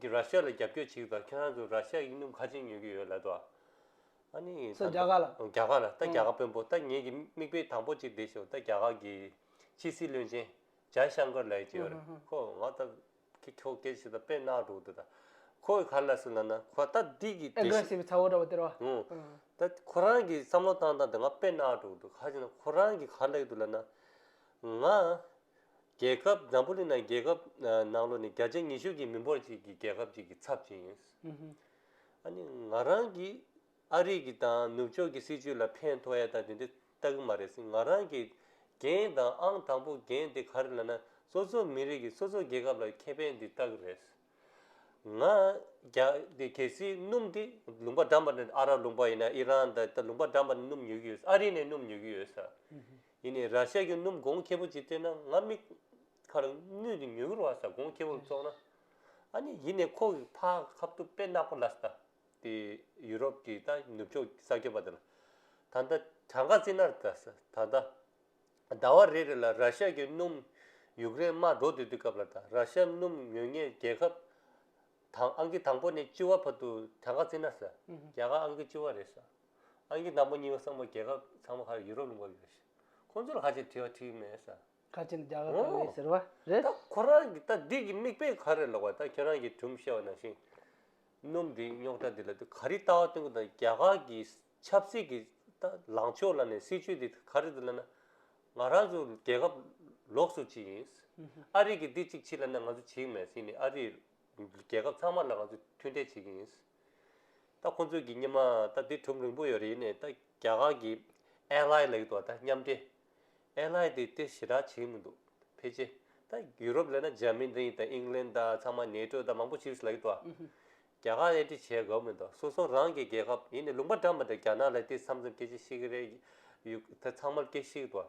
གིས་ར་ཤ་ལ་རྒྱབ་སྐྱོར་བྱེད་ཀྱི་པ་ཁྱེད་རང་ཚོ་ར་ཤ་ཡིག་ནུབ་ཁ་ཆེན་ཉོས་ཀྱི་ཡོད་ལད་དོ། ཨ་ནི་ད། སོ་རྒྱ་གར་ལ། རྒྱ་གར་ལ་ད་རྒྱ་གར་དཔོན་པོ་ད་ངེད་ཀྱི་མིག་དཔེ་དང་པོ་ཅིག་འདེད་ཤོག་ད་རྒྱ་གར་གྱི་ཕྱི་སྲིད་བློན་ཆེན་ཇཱའི་ཤང་ཀར་ལའི་ཀྱི་ཡོད་རེད་ཁོ་ང་ད་ཁྱེད་ཁྱོ་གས་ཤི་ད་དཔེ་ནག་འགྲོ་འདུག་ད་ཁོ་གིས་ག་ལ་སུ་ལ་ན་ཁོ་ད་འདི་གི་དེ་ཤི། Aggressive ཚ་བོ་འདྲ་བོ་དེ་རོ། ཧུ། ད་ཁོ་རང་གིས་བསམ་བློ་བཏང་བཏང་དེ་ང་དཔེ་ནག་འགྲོ་འདུག་ག་ཅིག་ན་ཁོ་རང་གིས་ག་ལ་ཡོད་འདུག་ལ་ན། ང། རྒྱལ་ཁབ་བཟང་པོ་ནི་ནང་རྒྱལ་ཁབ་ནང་ལོ་ནི་བརྒྱ་ཆ་ཉི་ཤུ་གྱི་མི་འབོར་གཅིག་གི་རྒྱལ་ཁབ་ཅིག་གི་ཚབ་བྱས་ཡོད། ཨ་ནི་ང་རང་གིས་ཨ་རིག་གི་དང་ནུབ་ཕྱོགས་ཀྱི་སྲིད་ཇུས་ལ་ཕན་ཐོགས་ཡ་ད་དེ་འདྲ་ལྟ་གི་མ་རེད་སྲིད་ང་རང་གིས་འགན་དང་ཨང་དང་པོ་འགན་དེ་ག་རེ་ལ་ན་སོ་སོ་མི་རིགས་ཀྱི་སོ་སོ་རྒྱལ་ཁབ་ལ་ཁེ་ཕན་འདི་ལྟ་གི་རེད། ང་རྒྱ་དེ་གལ་སྲིད་སྣུམ་དེ་ལུང་པ་འགྲམ་པ་ནས་ཨ་རག་ལུང་པ་ཡིན་ན་ཨི་རན་ད་ལྟ་ལུང་པ་འགྲམ་པ་ནས་སྣུམ་ཉོས་ཀྱི་ཡོད་ཨ་རི་ནས་སྣུམ་ཉོས་ཀྱི་ཡོད་ས། ཡིན་ནས་ར་ཤ་གི་སྣུམ་སྒོང་ཁེ་པོ་ཅིག་སྟེར་ན་ང་མིག་ཁར་སྣུན་ཏེ་མྱུ་གུར་བ་ས་སྒོང་ཁེ་པོར་བཙོང་ན་ཨ་ནི་ཡིན་ནས་ཁོ་གི་ཕ་ཁ་བཏུབ་དཔེ་ནག་པོ་ལབ་ས་དེ་ཡུ་རོབ་ཀྱི་ད་ནུབ་ཕྱོགས་ས་ཁྱོད་པ་དེ་ལ་ད་ལྟ་བྲང་ཁ་རྩིས་ནར་ད་ས་ད་ལྟ་ཟླ་བ་རེ་རེ་ལ་ར་ཤ་གི་སྣུམ་ཡུག་རེན་མར་འགྲོ་སྡོད་དུས་སྐབས་ལ་ད་ར་ཤ་སྣུམ་ཉོས་ངས་རྒྱལ་ཁབ་དང་ཨང་ཀི་དང་པོ་ནས་སྤྱི་བ་བར་དུ་བྲང་ཁ་རྩིས་ནར་ས་རྒྱ་གར་ཨང་ཀི་སྤྱི་བ་རེད་ས། ཨང་ཀི་དང་པོ་གཉིས་པ་གསུམ་པ་རྒྱལ་ཁབ་ཚང་མ་ཧ་ཡུ་རོབ་ལུང་པ་ཡོད། ཁོང་ཚོར་ཧ་ཅང་དྲི་བ་དྲིས་མེད་ས། ཁ་ཆེམས་རྒྱག་གི་ཡོད་ཟེར་བ་རེད། ད་ཁོ་རང་གི་ད་འདི་གི་དམིགས་དཔེ་ག་རེ་ལོག་པ་ད་ཁྱོད་རང་གི་གྲུམ་ཤེས་བ་ནང་བཞིན། སྣུམ་དེ་རྙོག་དྲ་དེ་ལ་དེ་ག་རེ་ལྟ་བ་སྟོན་གི་དང་རྒྱ་གར་གི་ཆབ་སྲིད་ཀྱི་ད་ལངས་ཕྱོགས་ལ་ནས་སྲིད་ཇུས་དེ་ག་རེ་དེ་ལ་ན། ང་རང་ཚོ་རྒྱལ་ཁབ་ལོགས་སུ་ཅིག་ཡིན། ཨ་རིག་གི་འདི་ཅིག་བྱེད་ལ་ན་ང་ཚོ་བྱེད་ཀྱི་མེད་ཡིན་ནས་ཨ་རིག་རྒྱལ་ཁབ་ཚང་མ་ལ་ང་ཚོ་མཐུན་འབྲེལ་བྱེད་ཀྱི་ཡིན། ད་ཁོང་ཚོས་ཀྱི་སྙེ་མ་ད་དེ་གྲུབ་རིང་པོ་ཡོད་རེད་ནས་ད་རྒྱ་གར་གྱི་ཨེ་ལྷའི་ལེགས་དོ་ད་མཉམ་འབྲེལ་ཨེ་ལྷའི་དེ་དེ་ཞི་དྲག་བྱེད་ཀྱི་མི་འདུག་ཕལ་ཆེ་ད་ཡུ་རོབ་ལས་ན་འཇར་མི་ནི་ད་ཨིང་ལན་ད་ཚང་མ་ནེ་ཏྲོ་ད་མང་པོ་ཆིའུ་ཞི་ལེགས་དོ་རྒྱ་གར་ཨེ་འབྲེལ་བྱེད་དགའ་བོ་མི་འདུག་སོ་སོ་རང་གྱི་རྒྱལ་ཁབ་ཡིན་ནས་ལུང་པ་འགྲམ་པ་ད་རྒྱ་ནག་ལས་དེ་བསམ་བསམ་སྐད་ཆེ་ཤིག་གི་རེད་ཡུ་ད་ཚང་མར་སྐད་ཤིག་དོ།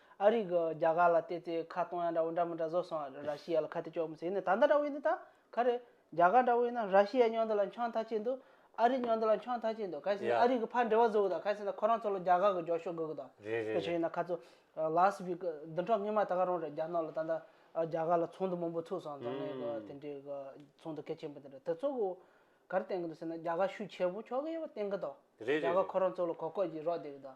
ཨ་རིག་གི་རྒྱ་གར་ལ་བལྟས་ཚེ་ཁ་སྟོང་ཡང་འདྲ་བོ་འདྲ་མི་འདྲ་བཟོ་སོང་ཨ་ར་ཤི་ཡ་ལ་ཁ་ཏི་ཅོག་མི་ཟེར་ནས་ད་ལྟ་འདྲ་བོ་ཡིན་ནི་ད་ག་རེད། རྒྱ་གར་འདྲ་བོ་ཡིན་ན་ར་ཤི་ཡའི་སྨྱོན་འདི་ལ་འཁྱོངས་ཐག་ཆད་འདུག་ཨ་རིག་སྨྱོན་འདི་ལ་འཁྱོངས་ཐག་ཆད་འདུག་གལ་སྲིད་ན་ཨ་རིག་གི་ཕར་འབྲེལ་བ་བཟོ་དགོས་དང་གལ་སྲིད་ན་ཁོ་རང་ཚོ་ལ་རྒྱ་གར་གི་འགྱོག་ཤོག་དགོས་གི་དང། རེད་རེད་དེ་བྱས་རེད། ན་ཁ་ཚོ་ལཱས་བྷི་ཀི་བདུན་ཕྲག་སྔོན་མ་ད་ག་རང་རེད་རྒྱ་ནག་ལ་ད་ལྟ་རྒྱ་གར་ལ་ཚོགས་འདུ་མང་པོ་ཚུགས་སོང་རྫོང་ནས་གི་དེ་འདྲའི་གི་ཚོགས་འདུ་གལ་ཆེན་པོ་དེ་འདྲ་དེ་ཚོ་གི་ག་རེ་བསྟན་གི་འདུག་ཟེར་ན་རྒྱ་གར་ཤུགས་ཆེ་པོ་ཕྱོགས་གི་ཡོད་པ་བསྟན་གི་དང། རེད་རེད་རེད། རྒྱ་གར་ཁོ་རང་ཚོ་ལ་གོ་སྐོས་ཀྱིས་རོགས་བསྡད་གི་དང།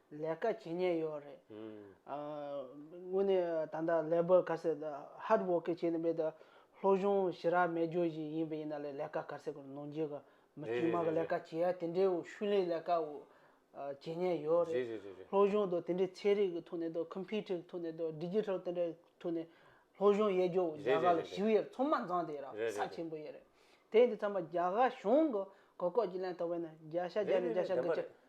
ལས་ཀ་བྱེད་ཉེན་ཡོད་རེད། དངོས་གནས་ད་ལྟ་ལས་འབོར་ག་ཟེར hard working བྱས་ནས་མེད་དུ་ལྷོ་གཞུང་ཞི་རགས་མེད་རྒྱུ་བཞིན་ཡིན་པ་ཡིན་ན་ལས་ལས་ཀ་ག་ཟེར་གོ་ནོར་འཇིག་གི་མི་དཀྱུས་མ་གི་ལས་ཀ་བྱེད་ཡ་དེ་འདྲའི་ཤུལ་ལེན་ལས་ཀ་བྱེད་ཉེན་ཡོད་རེད། ལྷོ་གཞུང་དུ་དེ་འདྲའི་ཚན་རིག་གི་ཐོག་ནས་དང computer གི་ཐོག་ནས་དང digital དེ་འདྲའི་ཐོག་ནས་ལྷོ་གཞུང་ཡལ་རྒྱུ་རྒྱ་གར་ལ་ཞུ་ཡས་ཚོང་མ་མཛངས་དེ་ར་ས་ཆེན་པོ་ཡས་རེད། དེ་འདི་ཚང་མ་རྒྱ་གར་གཞུང་གི་གོ་སྐོགས་ཀྱིས་ལན་ཐོབ་པ་ཡིན་ན་རྒྱ་ཤ་རྒྱ་ནས་རྒྱ་ཤ་གི་ཅི།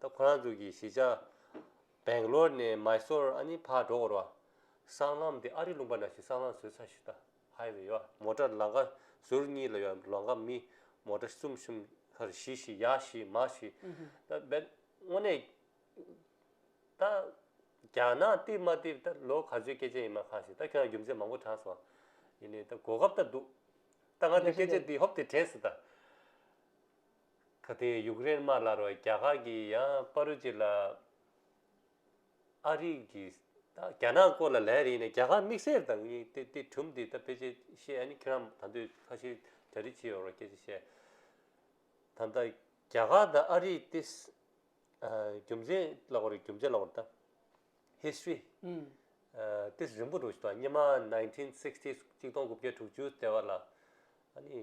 ད་ཁོ་རང་ཚོ་གི་གཞིས་ཆགས་བེང་ལོར་ནས་མཱི་སོར་ཨ་ནི་ཕར་འགྲོ་འོར་བ། སྲང་ལམ་དེ་ཨ་རི་ལུང་པ་ན་ཞིག་སྲང་ལམ་བཟོས་ཚར་ཞིག་ད་ཧའི་ཝེ་ཡོད་མོ་ཏྲར་ལང་ཀ་ཟུར་གཉིས་ལ་ཡོད་ལོང་ཀ་མི་མོ་ཏྲ་གསུམ་གསུམ་ཧར་བཞི་བཞི་ཡར་བཞི་མར་བཞི་ད་བེད་དངོས་གནས་ད་རྒྱ་ནག་བརྟིབས་མ་བརྟིབས་ད་ལོ་ག་ཚོད་སྐད་ཆ་ཡིན་མ་གང་ཞིག་ད་ཁྱོད་རང་རྒྱུ་མཚན་མང་པོ་དྲངས་སོང་ཡིན་ནའི་ད་གོ་སྐབས་ད་འདུག་ད་ང་ཚོའི་སྐད་ཆ་འདི་ཧོབ་སྟེ་དྲན་སོང་ད། ད་ལྟའི་ཡུཀ་རེན་དམར་ལ་རོ་རྒྱ་གར་གྱིས་ཡང་པ་རུ་ཅི་ལ་ཨ་རིག་གི་རྒྱ་ནག་སྐོར་ལ་ལན་རེ་ཡིན་ན་རྒྱ་གར་དམིགས་བསལ་དང་ཡིན་ཏེ་དེ་གྲུབ་འདི་ད་ཕེ་ཆེ་ཤེས་ཨ་ནི་ཁྱེད་རང་ད་འདོད་ཁ་ཤེས་གྲ་སྒྲིག་བྱེད་ཡོད་རོགས་སྐད་ཆ་བཤད་ད་ལྟ་རྒྱ་གར་དང་ཨ་རིག་དེ་རྒྱུ་མཚན་ལ་གོ་རེ་རྒྱུ་མཚན་ལ་གོ་རེ་ད history དེ་རིང་པོ་འགྲོ་ཞིག་ད་སྙེ་མ nineteen sixties གཅིག་སྟོང་དགུ་བརྒྱ་དྲུག་ཅུ་ལྟེ་བ་ལ་ཨ་ནི་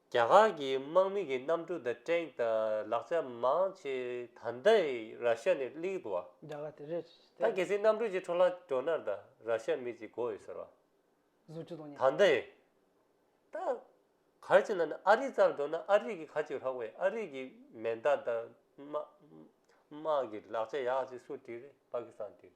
རྒྱ་གར་གྱི་དམག་མི་གྱི་གནམ་གྲུ་དང་ཀྲེང་དང་ལག་ཆ་མང་ཆེ་ད་ལྟ་ཡི་ར་ཤ་ནས་གླིག་འདུག་བ། རྒྱ་གར་དེ་རེད་ད་གལ་སྲིད་གནམ་གྲུ་གྱི་འཕྲོ་ལག་གྲོ་ནར་ད་ར་ཤ་མི་གཅིག་གོ་ཡོད་ཟེར་བ། བཟོ་བཅུ་དང་ཉེ། ད་ལྟ་ཡི། ད། གར་གྱི་ནང་ནས་ཨ་རི་རྩར་འགྲོ་ན་ཨ་རི་གྱི་ཁ་ཅིག་ལྷག་བས་ཨ་རི་གྱི་མེ་མདའ་དང་དམག་དམག་གྱི་ལག་ཆ་ཡག་ཅིག་སུ་བྲིས་རེད་པ་ཀི་སྟང་བྲིས་རེད།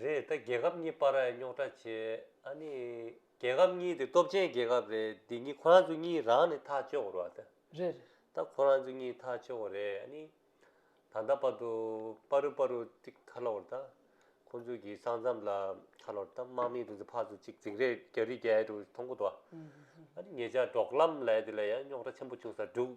རེད་ད་རྒྱལ་ཁབ་གཉིས་པར་རྙོག་དྲ་བྱེད་ཨ་ནི། རྒྱལ་ཁབ་གཉིས་དེ་སྟོབས་ཆེན་རྒྱལ་ཁབ་རེད་འདི་གཉིས་ཁོ་རང་ཚོ་གཉིས་རང་ནི་ཐག་གཅོད་དགོས་རོགས་རེད། ད་ཁོ་རང་ཚོ་གཉིས་ཐག་ཆོད་རེད་ཨ་ནི། ད་ལྟ་བར་དུ་པ་རུ་པ་རུ་ཏིག་ཁ་ལོར་ད། ཁོ་ཚོ་གི་ས་མཚམས་ལ་ཁ་ལོར་ད་དམག་མི་དེ་ཚོ་ཕར་ཚུར་ཅིག་འཛིང་རེད་རྒྱ་རི་རྒྱ་ཡལ་དུ་ཐོང་གོ་ཏོ། ཨ་ནི་ངེད་ཅག་འབྲོག་ལམ་ལས་དེ་ལ་ཡང་རྙོག་དྲ་ཆེན་པོ་བྱུང་ས་འདུག།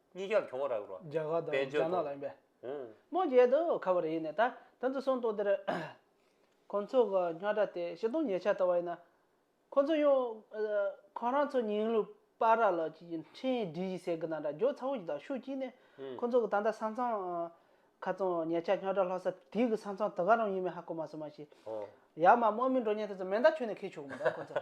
གཉིས་ཀྱང་གྱོང་རག་རོགས། རྒྱ་གར་དང་རྒྱ་ནག་ལ་ཡིན་པས། ཧུང། མོ་རྒྱལ་དུ་ཁ་བ་རེ་ཡིན་ནས་ད་ད་ཚོད་སོང་ཏོག་དེར། ཁོང་ཚོ་གི་རྙོག་དྲ་དེ་བཞི་སྟོང་ཉེ་ཆར་ལྟ་བ་ཡིན་ན། ཁོང་ཚོ་ཡང། ཁོང་རང་ཚོ་ཉིང་ལུས་དཔའ་ར་ལགས་ཀྱི་འཕྲིན་ཡིག་འབྲི་གཞི་ཟེར་གི་ན་འདྲ་རྒྱོགས་ཚ་བོ་ཞིག་དང་ཤུགས་བསྐྱིས་ནས། ཁོང་ཚོ་གི་ད་ལྟ་ས་མཚམས། ཁ་ཙོང་ཉེ་ཆར་རྙོག་དྲ་ལྷག་ས་དེ་གི་ས་མཚམས་དེ་ག་རང་ཡིན་མིན་ཧ་གོ་མ་སོང་མ་གཞི། ཧོང། ཡར་མར་དམག་མི་འགྲོ་ཉེན་དེ་ཚོ་མེ་མདའ་ཁྱོན་ནས་ཁེལ་ཆོག་གི་མི་འདུག་ཁོང་ཚོ།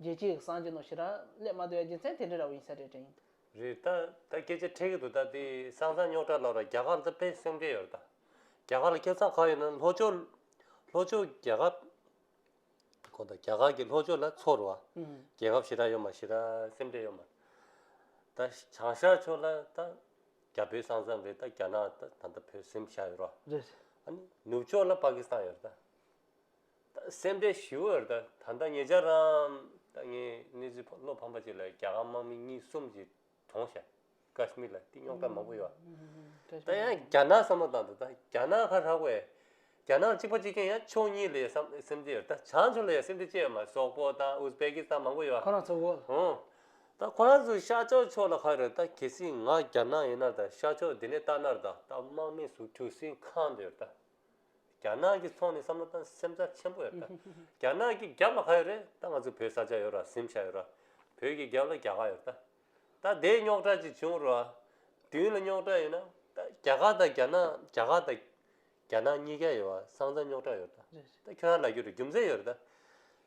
རྗེ་གཅིག་གསང་སྦྱིན་ནོ་ཞེས་རག་ལས་མ་དོལ་རྗེ་མཚན་དེ་འདྲའི་ར་བ་ཡིན་ས་རེད་དྲན། རེད་ད། ད་སྐད་ཆ་འཕྲད་གི་འདུག་ད་དེ་སང་ཚང་རྙོག་དྲ་ལོག་ར་རྒྱ་གར་ད་ཕན་སེམས་འབྲེལ་ཡོད་ད། རྒྱ་གར་ལ་ཁྱེད་ཚང་ག་ཡོད་ན་ལྷོ་ཕྱོགས། ལྷོ་ཕྱོགས་རྒྱ་གབ། གོ་ད་རྒྱ་གར་གི་ལྷོ་ཕྱོགས་ལ་ཚོར་བ། རྒྱལ་ཁབ་ཞེ་དྲག་ཡོད་མ་ཞེ་དྲག་སེམས་འབྲེལ་ཡོད་མ། ད་བྱང་ཤར་ཕྱོགས་ལ་ད། རྒྱ་བོད་ས་མཚམས་རེད་ད་རྒྱ་ནག་ད་ད་ད་བོད་སེམས་ཤར་ཡོད་རོ། རེད། ཨ་ནི་ནུབ་ཕྱོགས་ལ་པ་ཀི་སི་ཐང་ཡོད་རེད་ད། སེམས་ཁྲལ་ཞི་བའི་རེད་ད། ད་ལྟ་ངེད་ཅག་རང་ད་ངས་གནས་ཚུལ་བློ་ཕམ་པ་ཅིག་ལ་རྒྱ་གར་དམག་མི་གཉིས་གསུམ་གྱི་གྲོངས་ཤ་ཀཱཤ་མིར་ལ་གཏི་རྙོག་དྲག་མང་པོ་ཡོད། ད་ཡང་རྒྱ་ནག་བསམ་བློ་བཏང་ད་ད་རྒྱ་ནག་ཁ་ཧྲག་བས་རྒྱ་ནག་གཅིག་པ་གཅིག་མཁྱེན་ཡང་ཕྱོགས་གཉིས་ལས་བསམ་སེམས་ཁྲལ་རེད་ད་བྱང་ཕྱོགས་ལ་ཡང་སེམས་ཁྲལ་ཅི་ཡོད་མ་རེད་སོག་པོ་དང་ཨུས་པེ་ཀི་སྟ་མང་པོ་ཡོད། ཁོ་རང་ཚོ་འོ། ཧུང། ད་ཁོ་རང་ཚོ་ཤར་ཕྱོགས་ཕྱོགས་ལ་ཁ་རེད་ད་གལ་སྲིད་ང་རྒྱ་ནག་ཡིན་ན་ད་ཤར་ཕྱོགས་དེ་ནས་ལྟ་ན་རེད་ད་ད་དམག་མི་ཟུག་ཁྲུ་སིང་ཁང་དུ་ཡོད་རེད་ད། རྒྱ་ནག་གི་ཚོང་ནི་བསམ་བློ་དང་སེམས་རྩ་ཆེན་པོ་ཡོད་ད། རྒྱ་ནག་གི་རྒྱབ་ལ་ག་ཡོད་རེད་ད་ང་ཚོ་བོད་ས་ཆ་ཡོད་ར་གཟིམ་ཤ་ཡོད་ར། བོད་ཀྱི་རྒྱབ་ལ་རྒྱ་གར་ཡོད་ད། ད་དེ་རྙོག་དྲ་ཅིག་བྱུང་རུ་ཨ། བདུན་ལ་རྙོག་དྲ་ཡོད་ན་ད་རྒྱ་གར་དང་རྒྱ་ནག་རྒྱ་གར་དང། རྒྱ་ནག་གཉིས་ཀ་ཡོད་ཨ་སང་ཙང་རྙོག་དྲ་ཡོད་ར། ད་ཁྱོད་རང་ལ་རྒྱུ་རུ་རྒྱུ་མཚན་ཡོད་རེད་ད།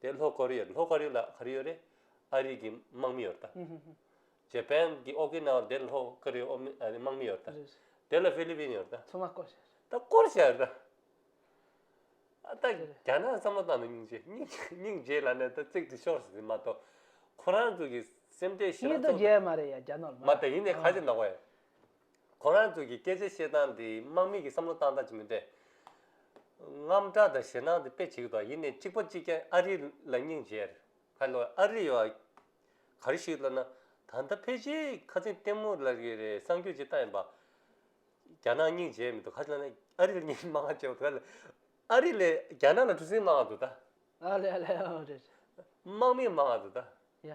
དེ་ལྷོ་ཀོ་རི་ཡ་ལྷོ་ཀ་རི་ལ་ག་རི་ཡོད་རེད་ཨ་རི་གི་དམག་མི་ཡོད་ད། ཇེ་པན་གི་ཨོ་ཀི་ན་བ་དེ་ལྷོ་ཀོ་རི་ཡའི་དམག་མི་ཡོད་ད། དེ་ལ་ཧྥི་ལི་པིན་ཡོད་ད། ཚང་མ་བསྐོར་བྱས། ད་བསྐོར་བྱས་ད། ཨ་ད་རྒྱ་ནག་བསམ་བློ་བཏང་ན་སྙིང་རྗེ་སྙིང་རྗེ་ལ་ནས་ད་བརྩེགས་དེ་ཤོར་ཟིན་མ་གཏོགས་ཁོ་རང་ཚོ་གི་སེམས་ཁྲལ་ཤི་ན་སྙིང་རྡོ་རྗེ་མ་རེད་ཡ་རྒྱ་ནོར་མ། མ་ད་ཡིན་ནའི་ག་ཚད་ནོག་པ་ཡིན། ཁོ་རང་ཚོ་གི་སྐད་ཆ་བཤད་སྟངས་དེ་དམག་མི་གི་བསམ་བློ་བཏང་སྟངས་ཅིག་མིན་ཏེ། རྔམ་སྐྲག་དང་ཞེད་སྣང་དེ་དཔེ་གཅིག་དང་ཡིན་ནས་གཅིག་པ་གཅིག་ཀྱང་ཨ་རི་ལ་སྙིང་རྗེར་ཁ་ལོ་ཨ་རི་ཡོ་ག་རེ་ཞིག་བསླབ་ན་ད་ལྟ་ཕལ་ཆེ་ཁ་ཚིག་ལྟད་མོ་ལ་རེ་རེ་གསང་རྒྱུ་ཇི་ལྟ་ཡིན་པ། རྒྱ་ནག་སྙིང་རྗེ་མི་འདུག་ཁ་ལོ་ནི་ཨ་རི་ལ་སྙིང་མ་ལྕོགས་དགོས་ལ། ཨ་རི་ལས་རྒྱ་ནག་ལ་གྲུ་གཟིངས་མང་བ་འདུག་ད། ཨ་རི་ལས་དམག་མི་མང་བ་འདུག་ད།